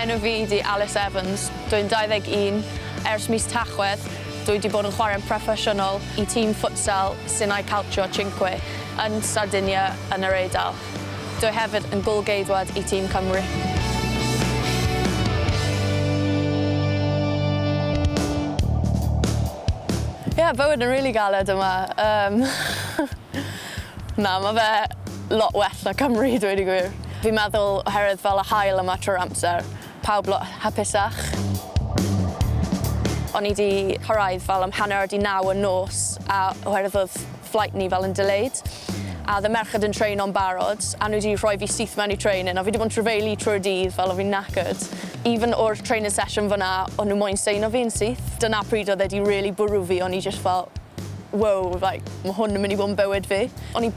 Enw fi di Alys Evans, dw i'n 21. Ers mis Tachwedd, dw i wedi bod yn chwarae'n proffesiynol i tîm ffutsal Sinai Calcio Cinque yn Sardinia yn yr Eidal. Dw hefyd yn gôl-geidwad i tîm Cymru. Ie, bywyd yn rili galed yma. Yym Na, ma' fe lot well na Cymru, dweud y gwir. Fi'n meddwl oherwydd fel y haul yma trwy'r amser, Pawb lot hapusach. O'n i 'di cyrraedd fel am hanner 'di naw y nos a oherwydd oedd flight ni fel yn delayed a oedd y merched yn traino'n barod a nhw 'di rhoi fi syth mewn i training a fi 'di bod yn trafeilu trwy'r dydd fel o fi'n knackered. Even o'r training session fan'na o'n nhw moyn seino fi yn syth. Dyna pryd oedd e 'di rili bwrw fi, o'n i jyst fel wow like ma' hwn yn mynd i bod yn bywyd fi. O'n i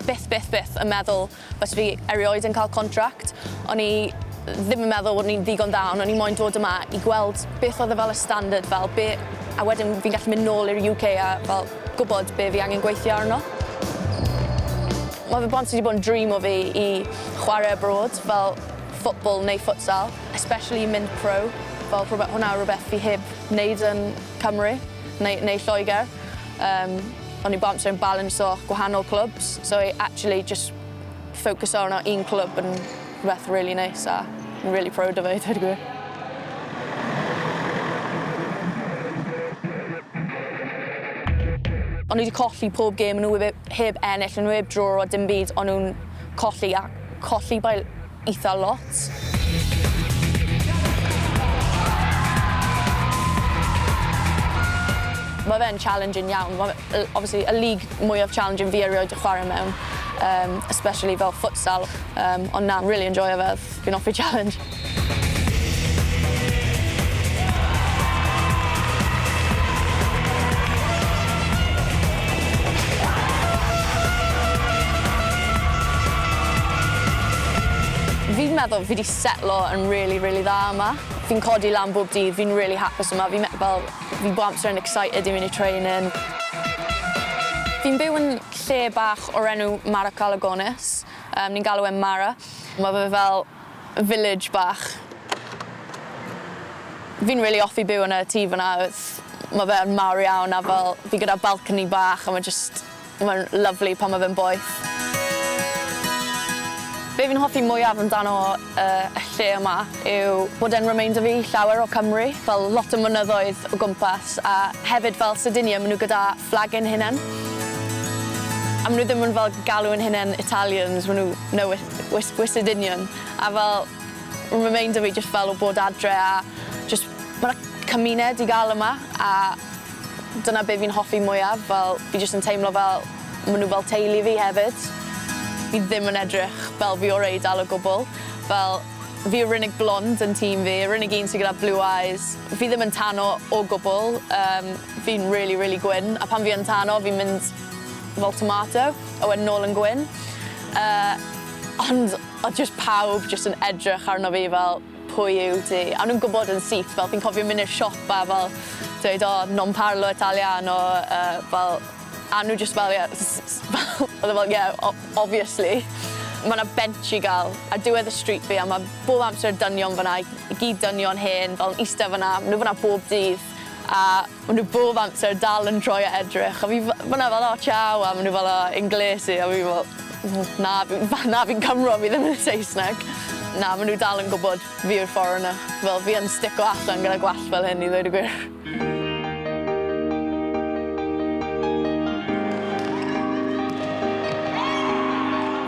byth byth byth yn meddwl Os fi erioed yn cael contract, o'n i ddim yn meddwl bod ni'n ddigon dda, ond o'n i moyn dod yma i gweld beth oedd e fel y standard fel, be... a wedyn fi'n gallu mynd nôl i'r UK a fel gwybod be fi angen gweithio arno. Mae fe bron 'di bod yn dream o fi i chwarae abroad, fel football neu futsal, especially i mynd pro, fel rhywbeth... hwnna yw rhywbeth fi heb wneud yn Cymru neu neu Lloegr. Yym. O'n i'n bouncer yn balansio gwahanol clwbs, so i actually jyst ffocyso arno un clwb yn rhywbeth rili neis a fi'n rili prowd o fe i dweud y gwir. O'n i 'di colli pob gêm o' n'w wib- heb ennill o' n'w 'eb draw a dim byd o'n nw'n colli a colli by eitha lot. Mae fe'n challenging iawn. Mae fe yy obviously y league mwyaf challenging fi erioed 'di chware mewn yym especially fel futsal yym ond na rili enjoio fe. Fi'n offi challenge. Fi'n meddwl fi 'di setlo yn rili rili dda yma. Fi'n codi lan bob dydd, fi'n rili hapus yma, fi'n me- fel fi bob amser yn excited i mynd i training. Fi'n byw yn lle bach o'r enw Mara Calagonis, yym ni'n galw e'n Mara. Ma' fe fel village bach. Fi'n rili offi byw yn y tŷ fyna, ma' fe yn mawr iawn a fel fi gyda balcony bach a ma' jyst Mae'n lyfli pan mae fe'n boeth. Be fi'n hoffi mwyaf amdano y lle yma yw bod e'n remeinder fi llawer o Cymru, fel lot o mynyddoedd o gwmpas a hefyd fel Sardinia maen nhw gyda fflag ein hunain. A maen nhw ddim yn fel galw ein hunain Italians, maen nhw no we're we're we're Sardinian a fel remeinder fi jyst fel o bod adre a jyst ma' 'na cymuned i gael yma a Dyna be' fi'n hoffi mwyaf fel fi jyst yn teimlo fel ma' nw fel teulu fi hefyd. Fi ddim yn edrych fel fi o'r Eidal o gwbwl fel fi yw'r unig blond yn tîm fi yr unig un sy gyda blue eyes. Fi ddim yn tano o gwbwl yym fi'n rili rili gwyn a pan fi yn tano fi'n mynd fel tomato a wedyn nôl yn gwyn yy ond odd jyst pawb jyst yn edrych arno fi fel Pwy yw ti? A o'n nhw'n gwybod yn syth, fel fi'n cofio mynd i'r siop a fel dweud o non parlo italiano yy fel a nhw jyst fel ie s- s- s- fel o'dd e fel ie o- obviously. Ma' 'na bench i ga'l ar diwedd y stryd fi a ma' bob amser dynion fan 'na i i gyd dynion hen fel yn iste fan 'na ma' nw fan 'na bob dydd a Ma' nhw bob amser dal yn troi a edrych a fi f- fan'na fel 'o ciao' a ma' nhw fel 'o inglesi' a fi fel w- na fi f- na fi'n Cymro fi ddim yn Saesneg. Na ma' nhw dal yn gwbod fi yw'r foreigner. Fel fi yn stico allan gyda gwallt fel hyn i ddweud y gwir.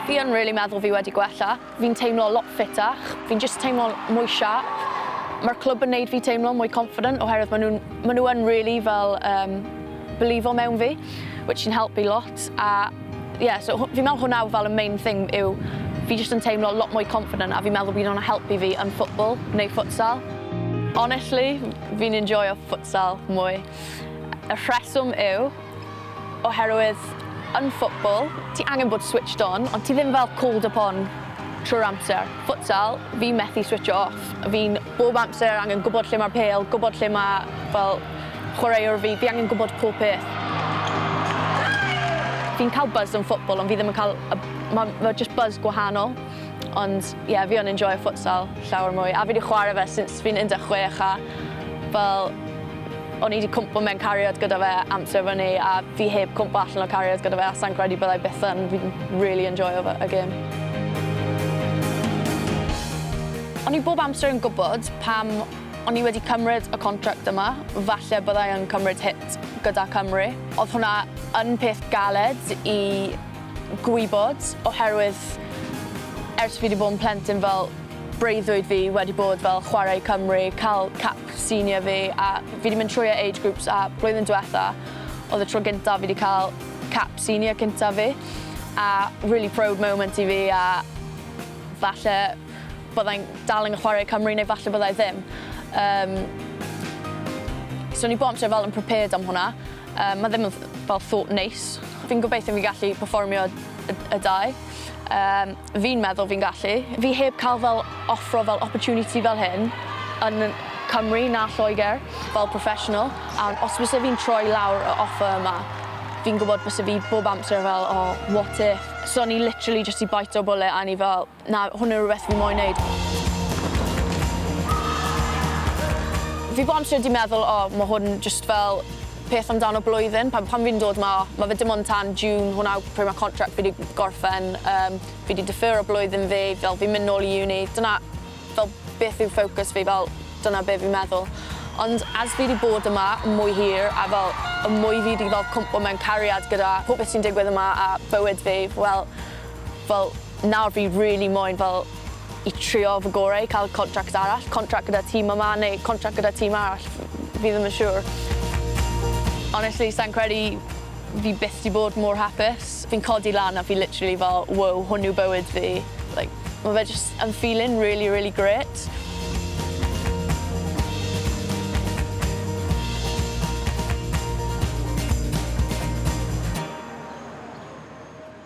Fi yn rili meddwl fi wedi gwella. Fi'n teimlo lot ffitach, fi'n jyst teimlo'n mwy sharp. Mae'r clwb yn neud fi teimlo mwy confident oherwydd maen nhw'n, maen nhw yn rili fel yym beliefo mewn fi, which sy'n helpu lot a ie so hw- fi'n meddwl hwnna yw fel y main thing yw fi jyst yn teimlo lot mwy confident a fi'n meddwl bydd hwnna'n helpu fi yn football neu futsal. Honestly, fi'n enjoio futsal mwy. Y rheswm yw Oherwydd yn football, ti angen bod switched on, ond ti ddim fel called upon trwy'r amser. Futsal, fi'n methu switsio off. Fi'n bob amser angen gwbod lle mae'r pêl, gwbod lle ma' fel chwaraewr fi, fi angen gwbod pob peth. Fi'n cael buzz yn football ond fi ddim yn cael y... ma' ma' jyst buzz gwahanol. Ond ie, fi yn enjoio futsal llawer mwy, a fi 'di chwarae fe since fi'n 16 a fel o'n i 'di cwmpo mewn cariad gyda fe amser fyny a fi heb cwmpo allan o cariad gyda fe a sai'n credu byddai byth yn, fi'n rili enjoio fe y gêm. O'n i bob amser yn gwybod pam o'n i wedi cymryd y contract yma, falle byddai yn cymryd hit gyda Cymru. Odd hwnna yn peth galed i gwybod oherwydd ers fi 'di bod yn plentyn fel breuddwyd fi wedi bod fel chwarae i Cymru, cael cap senior fi a fi 'di mynd trwy e age groups a blwyddyn diwetha oedd y tro gynta fi 'di cael cap senior cynta fi a rili proud moment i fi a falle byddai'n dal yn chwarae i Cymru neu falle byddai ddim. Yym. So o'n i bob tro fel yn prepared am hwnna. Yy ma' ddim yn th- fel thought neis. Fi'n gobeithio fi'n gallu perfformio y y dau. Yym fi'n meddwl fi'n gallu. Fi heb ca'l fel offro fel opportunity fel hyn yn y Cymru na Lloeger fel professional a os fyse fi'n troi lawr y offer yma fi'n gwbod byse fi bob amser fel oh what if? So o'n i literally jyst 'di bite'r bullet a o'n i fel Na, hwn yw rhywbeth fi moyn neud. Fi bontio 'di meddwl o ma' hwn jyst fel peth amdano blwyddyn pan pan fi'n dod 'ma ma' fe dim ond tan June hwnna yw pryd ma' contract fi 'di gorffen yym fi 'di defero blwyddyn fi fel fi'n myn' nôl i uni dyna fel beth yw focus fi fel dyna be' fi'n meddwl. Ond ers fi 'di bod yma yn mwy hir a fel y mwy fi 'di fel cwmpo mewn cariad gyda popeth sy'n digwydd yma a bywyd fi wel Fel, nawr fi rili moyn fel i trio fy gore i ca'l contract arall, contract gyda tîm yma neu contract gyda tîm arall, fi ddim yn siŵr. Honestly, sai'n credu fi byth 'di bod mor hapus. Fi'n codi lan a fi literally fel wow, hwn yw bywyd fi. Like, ma' fe jyst yn feeling rili rili grêt.